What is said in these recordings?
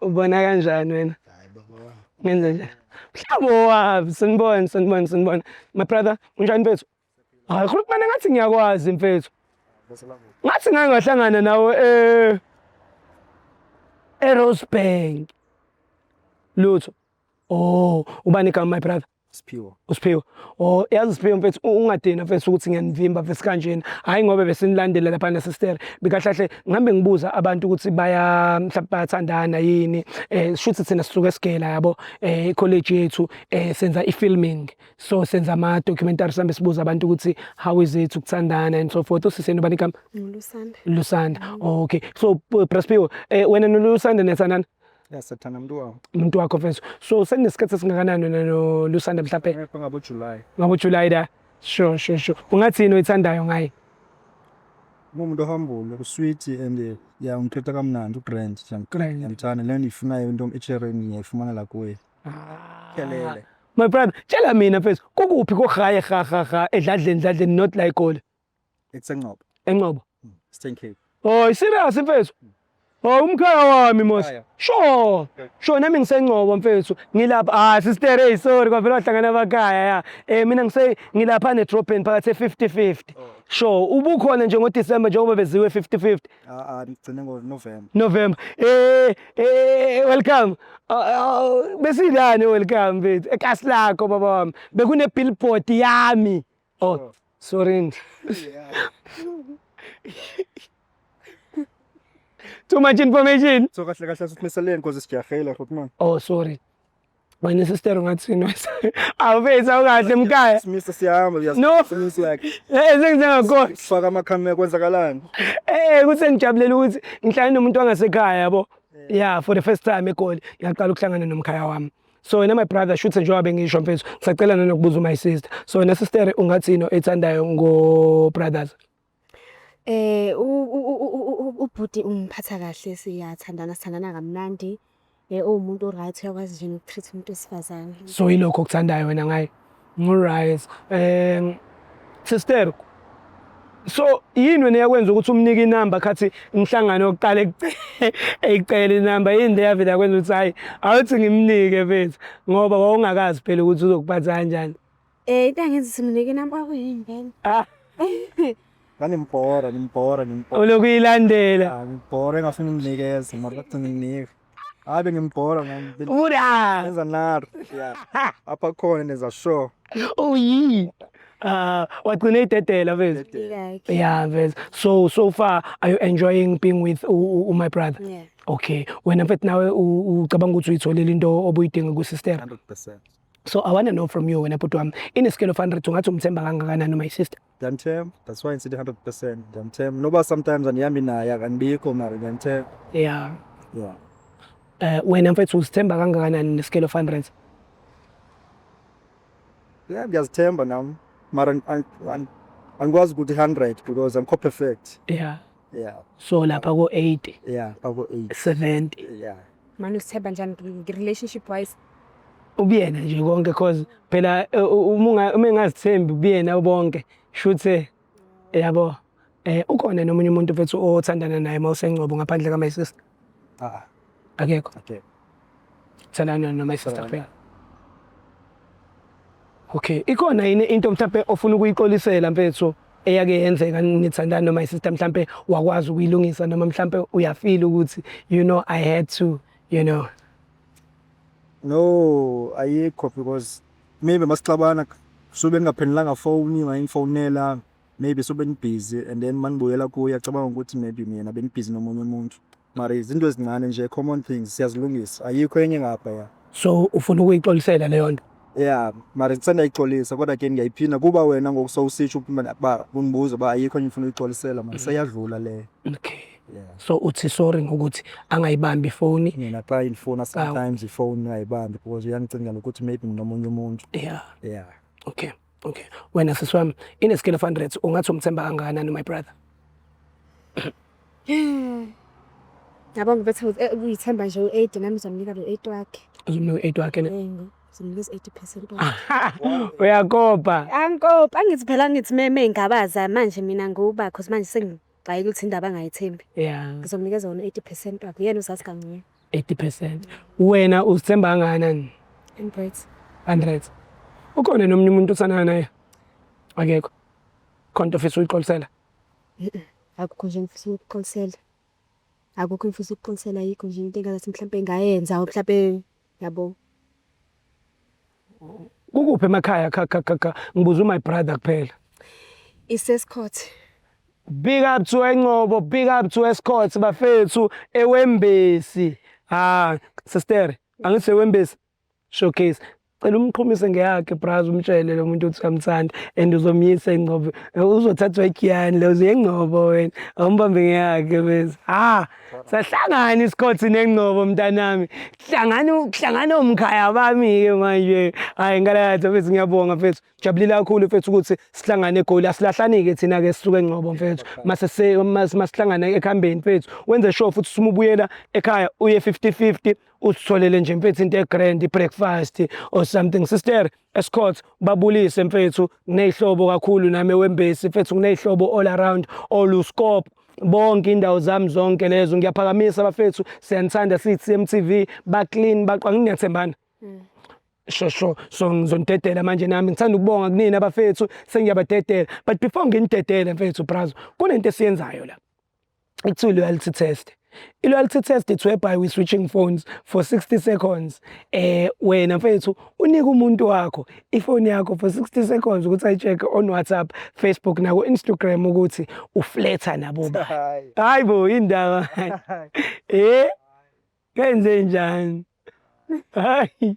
ubona kanjani wena ngenze nje mhlawumbe owabi sanibona sanibona sanibona my brother unjani mfethu hayi khuluma kumane ngathi ngiyakwazi mfethu ngathi ngake ngahlangana nawe eh eRosebank lutho oh ubani igama my brother Siphiwo. Usiphiwo. Oh yazi Siphiwo mfethu ungadina mfethu ukuthi ngiyanivimba mfethu kanjena. Hayi ngoba besinilandela lapha na sister. Bikahlahle ngihambe ngibuza abantu ukuthi baya mhlawumbe bayathandana yini. Eh shuthi thina sisuke sigela yabo eh college yethu eh senza ifilming. So senza ama documentaries sambe sibuza abantu ukuthi how is it ukuthandana and so forth. Usiseni ubani igama? Lusanda. Lusanda. Okay. So Brasiphiwo eh wena noLusanda niyathandana? Ya sathana mntu wakho. Umuntu wakho mfethu. So seninesikhathi esingakanani wena no Lusanda mhlawumbe? Ngapha ngabo July. Ngabo July da. Sure sure sure. Ungathini oyithandayo ngaye? Umuntu ohambule usweet and eh, ya ungithetha kamnandi ugrand nje. Grand. Ngiyamthanda le nto ifunayo into echereni ngiyayifumana la kuye. Ah. Kelele. My brother, tshela mina mfethu, kukuphi kohaye ha ha ha edladleni dladleni not like all. Eksenqobo. Enqobo. Mm. Eastern Cape. Oh, serious mfethu. Mm. Oh, umkhaya wami mos. Sure. Sure nami ngisenqobo mfethu. Ngilapha ah sister hey sorry kwavela wahlangana abakhaya ya. Eh mina ngise ngilapha ne drop in phakathi 50 50. Sure, ubukhona nje ngo December njengoba beziwe 50 50. Ah ah ngigcine ngo November. November. Eh eh welcome. Ah, ah, Besilani welcome mfethu. Ekasi lakho baba wami. Bekune billboard yami. Oh, sorry. Too much information. So kahle kahle sithimisele inkosi sijahela futhi manje. Oh, sorry. Wena sister ungathi noise. Awubesa ungahle mkaya. Simisa siyahamba uyazi. No. Simisa yakhe. Eh sengizengakho. Sifaka amakhamera kwenzakalani? Eh kuse ngijabulela ukuthi ngihlale nomuntu wangasekhaya yabo. Yeah, for the first time eGoli ngiyaqala ukuhlangana nomkhaya wami. so wena my brother shuthe njengoba bengisho mfethu ngisacela nanokubuza my sister so wena sister ungathini ethandayo ngo brothers eh ubhuti ungiphatha kahle siyathandana sithandana kamnandi eh uwumuntu oright uyakwazi nje nokutreat umuntu wesifazane so yilokho okuthandayo wena ngaye Ngiryt um sister so yini wena eyakwenza ukuthi umnike inamba khathi umhlangano yokuqala eyicela inamba yini le yavela kwenza ukuthi hhayi awuthi ngimnike mfethu ngoba wawungakazi phela ukuthi uzokuphatha kanjani Eh into engenza ukuthi nginike inamba kwakuyini vele ah. ngangimbhora ngimbhora ngimbhora ulokhu uyilandela ah, ngibhora engafuni unginikeza mara bathi nginike hayi bengimgqora ubuda enza nar yeah apha khona nenza sure uyi uh, wagcina idedela vez yeah vez so so far are you enjoying being with u, u, u my brother yeah. okay wena mfethu nawe ucabanga ukuthi uyitholile into obuyidinga kusister 100% so i want to know from you wena bhuti wami in a scale of 100 ungathi umthemba kangakanani my sister Ndiyamthemba, that's why ndisithi hundred percent ndiyamthemba noba sometimes andihambi naye akandibikho mara ndiyamthemba ya yeah. Eh, wena mfethu uzithemba kangakanani ne-scale of hundreds yeah ndiyazithemba nam mara an- an- an- angikwazi ukuthi hundred because angikho perfect ya yeah so lapha ko 80 yeah bako 8 70 yeah manje usithemba njani ngi- relationship wise ubuyena nje konke cause phela eh, u- uma unga- uma engazithembi ubuyena bonke shuthe yabo eh ukhona nomunye umuntu mfethu othandana naye mawusengcobo ngaphandle ka my sister Ah, akekho okay. Thanana noma isister Thanana. Okay, ikhona yini into mhlawumbe ofuna ukuyixolisela mfethu eyake yenzeka nithandana noma isister mhlawumbe wakwazi ukuyilungisa noma mhlawumbe uyafeel ukuthi you know I had to you know No, ayikho because maybe masixabana sube ngingaphendulanga phone, ngayingifonela. maybe so benibhizi and then manibuyela kuye acabanga ukuthi maybe mina benibhizi nomunye umuntu mara izinto ezincane nje common things siyazilungisa ayikho enye ngapha ya so ufuna ukuyixolisela leyo nto ya mara sendayixolisa kodwa ke ngiyayiphinda kuba wena ngoku sowusitsho uba ba- undibuza uba ayikho enye ngifuna uyixolisela mara seyadlula leyo okay Yeah. so uthi sorry ngokuthi angayibambi ifoni mina xa indifuna sometimes ifowuni ayibambi because uyandicingela ukuthi maybe nginomunye umuntu yeah yeah okay Okay. Wena sisi wami in a scale of 100 ungathi umthemba kangakanani my brother? Yabo ngibethe eh, uyithemba nje u-80 nami ngizomnika lo 8 wakhe. Uzomnika u-8 wakhe ne? Yebo. Ngizomnikeza 80% wakhe. Uyakopa. Angikopa angithi phela ngithi meme ingabaza manje mina ngubakho manje sengi Hayi ukuthi indaba angayithembi. Yeah. Ngizomnikeza wona 80% wakhe. Yena uzazi kangcono. 80%. Wena uzithemba kangakanani? 100. 100. Ukhona nomunye umuntu osanana naye? Akekho. Khonto ofisa uyixolisela? Akukho nje ngifisa ukuxolisela. Akukho ngifisa ukuxolisela yikho nje into engathi mhlawumbe ngayenza mhlawumbe yabo kukuphi emakhaya kha kha kha ngibuza my brother kuphela isescourt big up to enqobo big up to escourt bafethu ewembesi ha sister angithi ewembesi showcase cela umqhumise ngeyakhe brazo umtshele lo muntu ukuthi uyamthanda and uzomyisa ingcobo uzothathwa igiyani le uzeyengcobo wena awumbambe ngeyakhe bese ha sahlangana isikhothi nengcobo mntanami hlangana hlangana omkhaya bami ke manje hayi ngalakatha mfethu ngiyabonga mfethu jabulile kakhulu mfethu ukuthi sihlangane egoli asilahlani-ke thina-ke sisuke engcobo mfethu masihlangana ekuhambeni mfethu wenze sure futhi simubuyela ekhaya uye 50 50 usitholele nje mfethu into egrand i-breakfast or something sister Escort babulise mfethu neyihlobo kakhulu nami wembesi mfethu ngineyihlobo all around all uskop bonke indawo zami zonke lezo ngiyaphakamisa bafethu siyanithanda siyi CMTV ba clean baqwa nginethembana mm. sho sho so ngizonidedela manje nami ngithanda ukubonga kunina bafethu sengiyabadedela but before nginidedele mfethu brazo kunento esiyenzayo la ekuthiwa i-loyalty test i-loyalty test it's whereby we switching phones for 60 seconds eh wena mfethu unika umuntu wakho ifoni yakho for 60 seconds ukuthi ayi-check-e on whatsapp facebook nako-instagram ukuthi ufletha nabo ba hayi bo indaba eh kenze njani hayi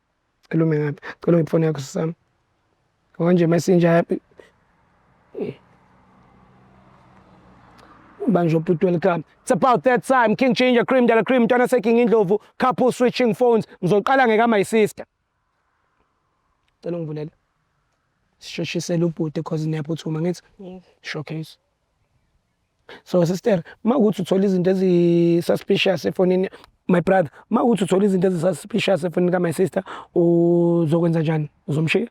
Cela ume ngapha. Cela ungiphe ifoni yakho sisami. Konje messenger banjwa ubhuti welcome it's about that time king ginger cream dala cream mntwana seking indlovu couple switching phones ngizoqala ngeka my sister cela ungivulele sisheshisele ubhuti cause niyaphuthuma ngithi showcase so sister uma ukuthi uthola izinto ezi-suspicious efonini my brother uma ukuthi uthola izinto ezi-suspicious efonini ka-my sister uzokwenza njani uzomshiya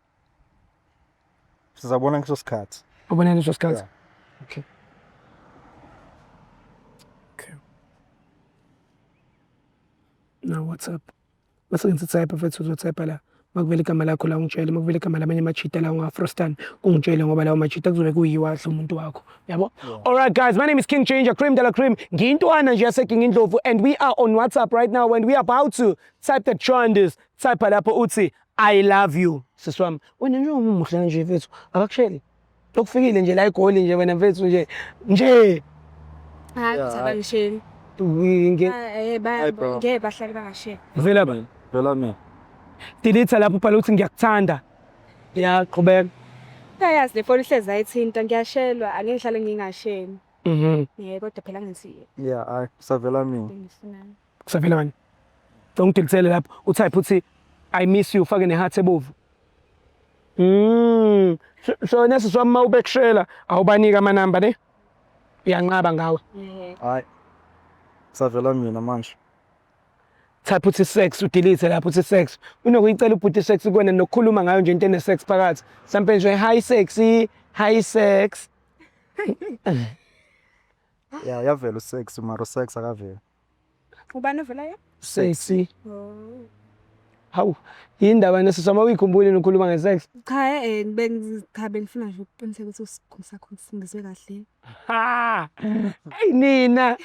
sizabona ngiso sikhathi ubona ngiso sikhathi yeah. okay okay na whatsapp Masingise type mfethu uzotype la. Makuvela igama lakho la ungitshele, makuvela igama lamanye amajita la unga-frostan ungitshele ngoba lawo majita kuzobe kuyiwa adla umuntu wakho. Yabo? Yeah. Alright guys, my name is King Ginger, Cream de la Cream. Ngiyintwana nje yaseKing Indlovu and we are on WhatsApp right now and we are about to type the trenders. Type lapho uthi I love you. Siswami, wena nje umuhle kanje mfethu. Akakusheli. Lokufikile nje la igoli nje wena mfethu nje. Nje. Hayi Yeah, kuthaba hayi. ngisheni. Nge- Eh ba Hayi, bro. ngeke bahlale bangasheni. Vela bani. Vela mina. Delete lapho ubhala ukuthi ngiyakuthanda. Ya qhubeka. Uyayazi le foni ihlezi ayithinta ngiyashelwa angeke ngihlale ngingasheni. Mhm. Eh kodwa phela ngithi Yeah, hayi kusavela mina. bengifunani. Kusavela manje. Cela ungidilitsele lapho. Utype uthi I miss you ufake neheart ebovu. Mm. So nesi swami uma ubekushela awubanika ama number ne? Uyanqaba ngawe. Hayi. Kusavela mina manje. Type uthi sex udelete lapho uthi sex. Unokuyicela ubhuti sex kuwena nokukhuluma ngayo nje into ene sex phakathi. Mhlampe nje hi sexy, hi sex. Yeah, yavela usex mara usex akaveli. Ubani ovela ye? Sexy. Oh. Hawu, yini ndaba nesizwa uma uyikhumbuli nikhuluma nge-sex? Cha eh bengi cha bengifuna nje ukuqiniseka ukuthi usikhulu sakho ngifundiswe kahle. Ha! Eyi nina,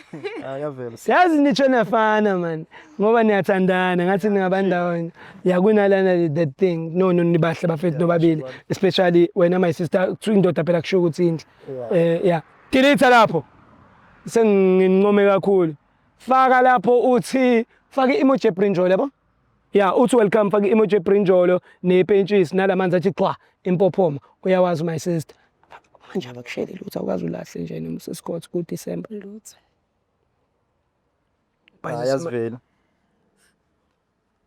Ah, yavela. siyazi nitsho nafana man. Ngoba niyathandana, ngathi ningaba ndawonye. Yakunalana the thing. No, no, nibahle bafethu nobabili. Especially wena my sister, kuthiwa indoda phela kusho ukuthi indle. Eh, yeah. Delete lapho. Sengincome kakhulu. Faka lapho uthi faka i-emoji ebrinjolo yabo. Ya, uthi welcome faka i-emoji ebrinjolo nepentshisi nalamanzi athi qwa impophoma. Uyawazi my sister. Manje abakusheli lutho awukazi ulahle nje noma usesikhothi ku-December. Lutho. Ayazivela.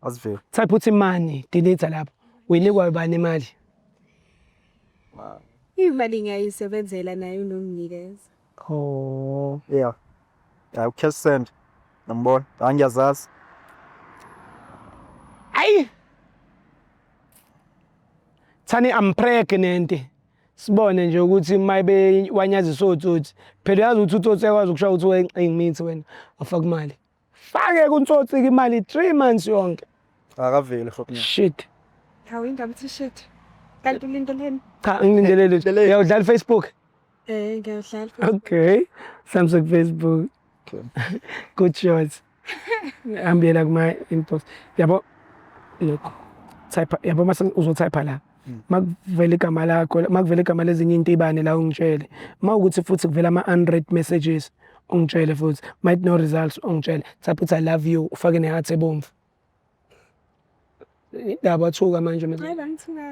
Asivele. Type uthi money delete lapho. Uyinikwa ubani imali? Imali ngiyayisebenzela naye unomnikeza. Oh. Yeah. Yeah, ucash send. Nambona. Angiyazazi. Ayi. Thani I'm pregnant. Sibone nje ukuthi mayibe wanyazisa otsotsi. Phela yazi ukuthi utsotsi ekwazi ukushaya ukuthi wencingi mithi wena. Afaka imali. Fake kuntsotsi ke imali 3 months yonke. Akaveli fuck. Shit. Hawu indaba ithi shit. Kanti ulindeleni? Cha ngilindelele. Uyawudlala Facebook? Eh ngiyawudlala. Okay. Samsung Facebook. Good choice. Ambiyela kuma inbox. Yabo. Look. Type yabo mase uzotype la. Hmm. makuvela igama lakho makuvela igama lezinye intibane la ungitshele mawukuthi futhi kuvela ama unread messages ungitshele futhi might no results ungitshele thapha uthi i love you ufake ne heart ebomvu indaba athuka manje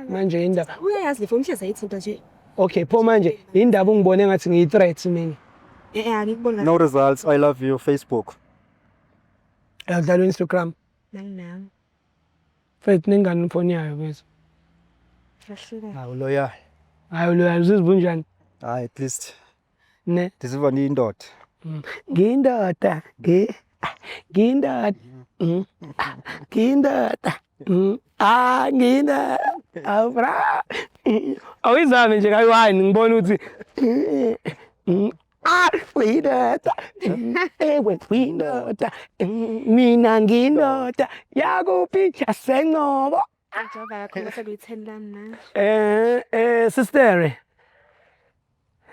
manje indaba uyayazi le phone hleza ithinta nje okay pho manje indaba ungibone ngathi ngiyi threat mina eh, eh angikubona no results i love you facebook akudlalwa instagram nami nami Faith nengane ifoni yayo bese. Kahleni. Hawu loyal. Hayi loyal uzizwa unjani? Hayi at least Ne. ndizizwa ndiyindoda. Ngindoda. Ngi. Ngindoda. Mm. Ah, Ngindoda. Mm. Ah ngindoda. Awu bra. Awuyizame nje kayi wine ngibona ukuthi. Mm. Ah, uyindoda ewe uyindoda mina ngindoda yakuphi yasencobo Njengoba yakho bese kuyi-ten lami manje. eh eh sister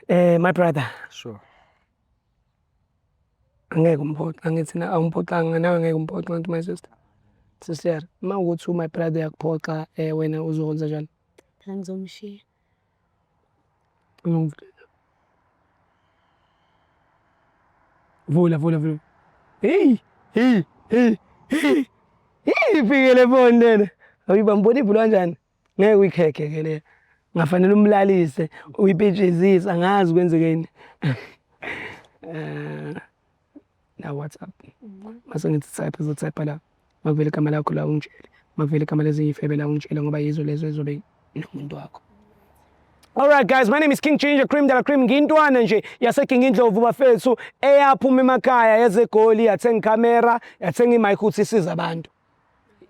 eh my brother Sure. angeke umphoxe angithi na awumphoxanga nawe ngeke umphoxe ngathi my sister sister uma ukuthi u my brother yakuphoxa eh wena uzokwenza njani Phela ngizomshiya. Vula, vula, vula. Hey, hey, hey, hey. Hey, fikele phone lena. Ayiba mbona ibhulu kanjani? Ngeke uyikhekhe ke le. Ngafanele umlalise, uyipitshizisa, angazi kwenzekeni. Eh. la WhatsApp mhm. mase ngithi type izo type la makuvele igama lakho la ungitshele makuvele igama lezinye ifebe la ungitshele ngoba yizo lezo ezobe nomuntu wakho All right guys, my name is King Ginger Cream Dala Cream ngintwana nje yase King Indlovu bafethu eyaphuma emakhaya yezegoli yathenga camera yathenga imic ukuthi isiza abantu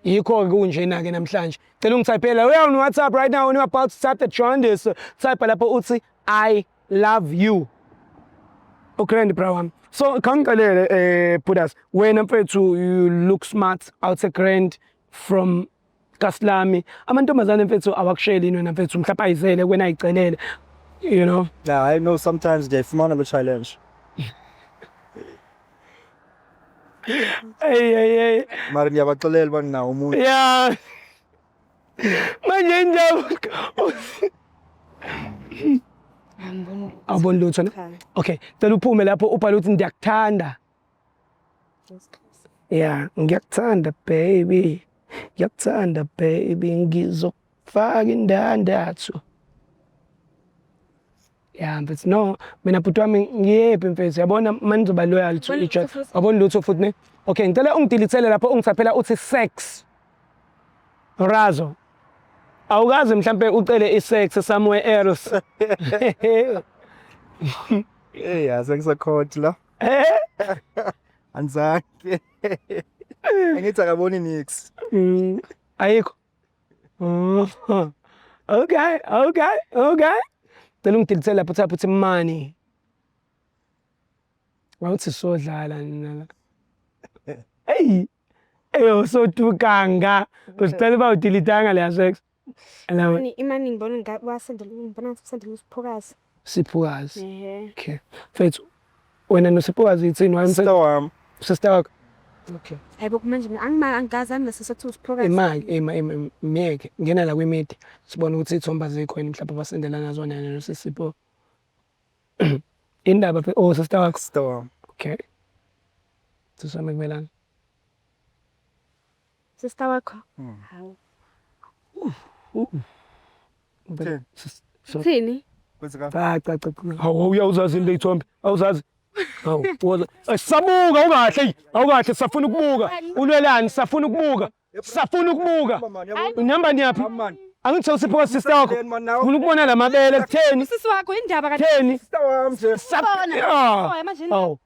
yikho-ke kunjena-ke namhlanje cela ungithayiphela we on whatsapp right now when you about to type the jaundice type lapho uthi i love you ugrand bra wami so khangixelele um eh, budas wena mfethu you look smart out a grand from kasilami amantombazane mfethu awakusheli yini wena mfethu mhlawumbe ayizele wena ayicelele you know yeah i know sometimes ngiyayifumana lo challenge Eyi eyi eyi. Mara ngiyabaxolela uba nginawo umuntu. Ya. Manje injaba. Awuboni lutho ne? Okay, cela uphume lapho ubhale ukuthi ndiyakuthanda. Ya, ngiyakuthanda baby. Ngiyakuthanda baby ngizok faka indandatho ya mfethu no mina bhuti wami ngiyephi mfethu yabona uma nizoba loyal to each other wabona lutho futhi ne okay ngicela ungidilithele lapho ungisaphela uthi sex razo awukaze mhlampe ucele isex somewhere else hey yaze ngisakhoti la eh? anzange angithi akaboni nix mm, ayikho okay okay okay cela ungidilise lapho uthapha uthi mani wawuthi sodlala nina la eyi eyosotukanga uzicela uba udilitanga leya sex imani ngibona wasendela ngibona wasendela usiphokazi Siphukazi. Ehe. Okay. Mfethu wena noSiphukazi yithini wayemse Sister wami. sister wakho. Okay. Hayibo kumanje mina angima angikaze anginase sokuthi usiphokazi. Imali ema ema ema- myeke ngena la kwimedia sibone ukuthi ithomba zikho yini mhlawumbe abasendela ngazo wena yena noSipho. Indaba phe oh sister wakho. Sister wami. Okay. Sisame kumelana. Sister wakho. Hmm. Hawu. Uthini? Uthini? Cha cha cha. Hawu uyawuzazi into ithombe. Awuzazi. Hawu woza. Sabuka ungahle. Awukahle safuna ukubuka. Ulwelani safuna ukubuka. Safuna ukubuka. Unihamba niyaphi? Angithe usipho ka sister wakho. Ufuna ukubona lamabele kutheni? Sisi wakho indaba ka. Kutheni? Sister wami nje. Sabona. Hawu.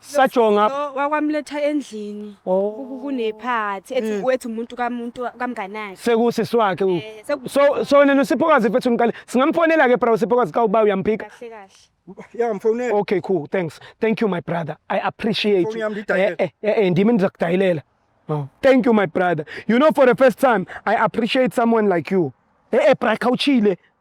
sajonga Lo wakwamletha endlini Oh. ku- kunephathi ethi Mm. wethu umuntu kamuntu kamnganakhe sekusisi wakhe u- Eh, seku- so so nena usiphokazi mfethu ngiqale singamfonela ke bro usiphokazi ka uba uyamphika kahle kahle ya mfonela okay cool thanks thank you my brother i appreciate Phone you yami ngidayile. eh eh, eh, eh ndimi ndizakudayilela Oh, thank you my brother you know for the first time i appreciate someone like you eh eh bra khawuchile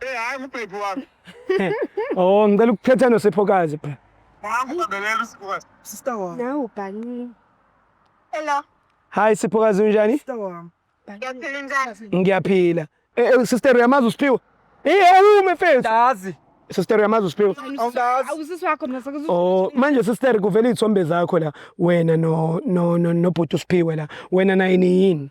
Eh hayi ngubhebhi wami. Oh ngicela ukuphetha nosiphokazi bra. Ngangibhelela usibukazi. Sister wami. Nawe ubhanile. Hello. Hi siphokazi unjani? Sister wami. Ngiyaphila njani? Ngiyaphila. Eh eh, sister uyamazi uSiphiwe? Eh awume mfethu. Dazi. Sister uyamazi uSiphiwe? Awudazi. Awusisi wakho mina sekuzo. Oh manje sister kuvela izithombe zakho la wena no no no nobhuti uSiphiwe la wena naye niyini?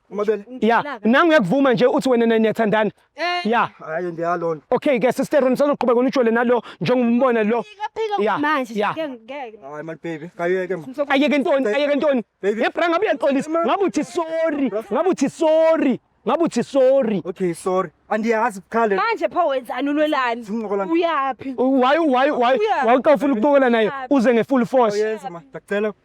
Uma bele ya nangu uyakuvuma nje uthi wena naye niyathandana Eh, ya hayi ndiyalona. okay ke sister nisazoqhubeka unijole nalo njengombona lo Phika Ya, manje ya. ngeke ngeke. Hayi my baby, kayeke ma. ayeke ntoni ayeke ntoni Baby. yebra ngabe uyaxolisa ngabe uthi sorry ngabe uthi sorry ngabe uthi sorry Okay, sorry. Andiyazi bukhale. Manje pho wenzani ulwelani? Sincokola. Uyaphi? waye waye waye Uya. waye xa ufuna ukuqokola naye uze nge-full force Oyenza ma. Ndacela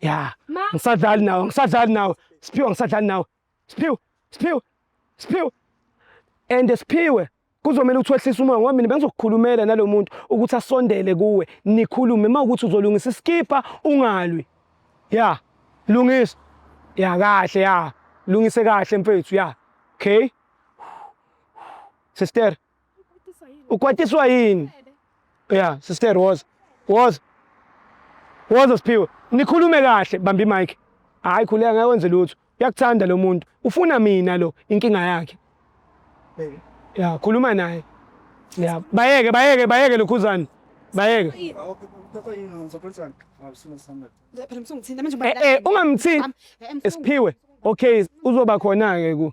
ya Ma. ngisadlali nawe ngisadlali nawe siphiwe ngisadlali nawe siphiwe siphiwe siphiwe and siphiwe kuzomele ukuthi wehlise umoya ngoba mina bengizokukhulumela nalo muntu ukuthi asondele kuwe nikhulume uma ukuthi uzolungisa isikipha ungalwi ya lungisa ya kahle ya lungise kahle mfethu ya okay sister ukwatiswa yini ya sister woza woza woza siphiwe nikhulume kahle bamba imike hhayi khuleka ngeke wenze lutho uyakuthanda lo muntu ufuna mina lo inkinga yakhe ya khuluma naye ya bayeke bayeke bayeke lokhuzane bayeke eh, eh, ungamthinti esiphiwe okay uzoba khona-ke ku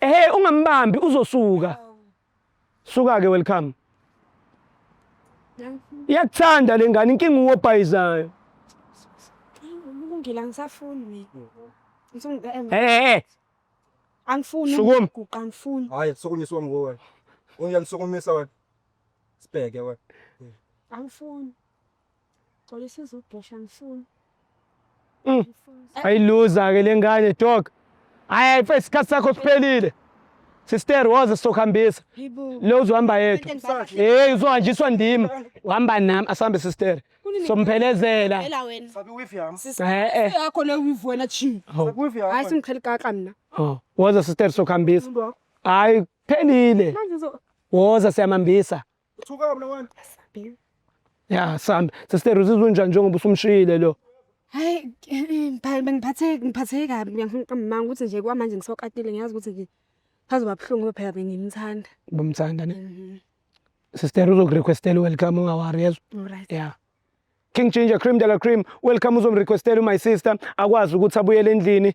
ehe ungambambi uzosuka suka ke welcome iyakuthanda le ngane inkinga uwobhayizayo ngila ngisafuni mina ehe angifuni ukuguqa angifuni hayi sokunyiswa ngowe uyangisokumisa wena sibheke wena angifuni Xolisa uzogesha ngifuni. Mm. Ayiluza ke lengane dog. Hayi mfethu isikhathi sakho siphelile. Sister woze sokuhambisa. Lo uzohamba yedwa. Hey uzohanjiswa ndimi. Uhamba nami asambe sister. Somphelezela. Phela wena. Sabi wifi yami. Eh eh. Yakho le wifi wena chi. Sabi wifi yami. Hayi simqhela kaka mina. Oh, woza sister sokuhambisa. Hayi phelile. Manje uzo Woza siyamambisa. Uthuka mina wena. Asambe. Ya sambe. Sister uzizwa unjani njengoba usumshiyile lo? Hayi phela bengiphathe ngiphatheke kabi ngiyafuna uqamba ukuthi nje kwamanje ngisokatile ngiyazi ukuthi nje phazoba buhlungu phela bengimthanda. Ubumthanda ne? Mhm. Sister uzokurequestela welcome ungawari yezwa. Alright. Yeah. King Ginger Cream Dala Cream welcome uzomrequestela my sister akwazi ukuthi abuyele endlini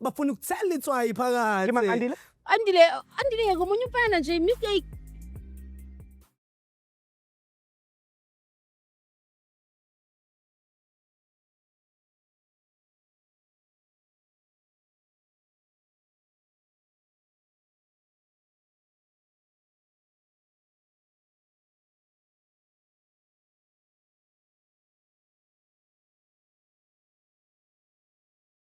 bafuna ukuthela itswayi phakathi Ke Makandile? andile andile yeke omunye umfana nje mistake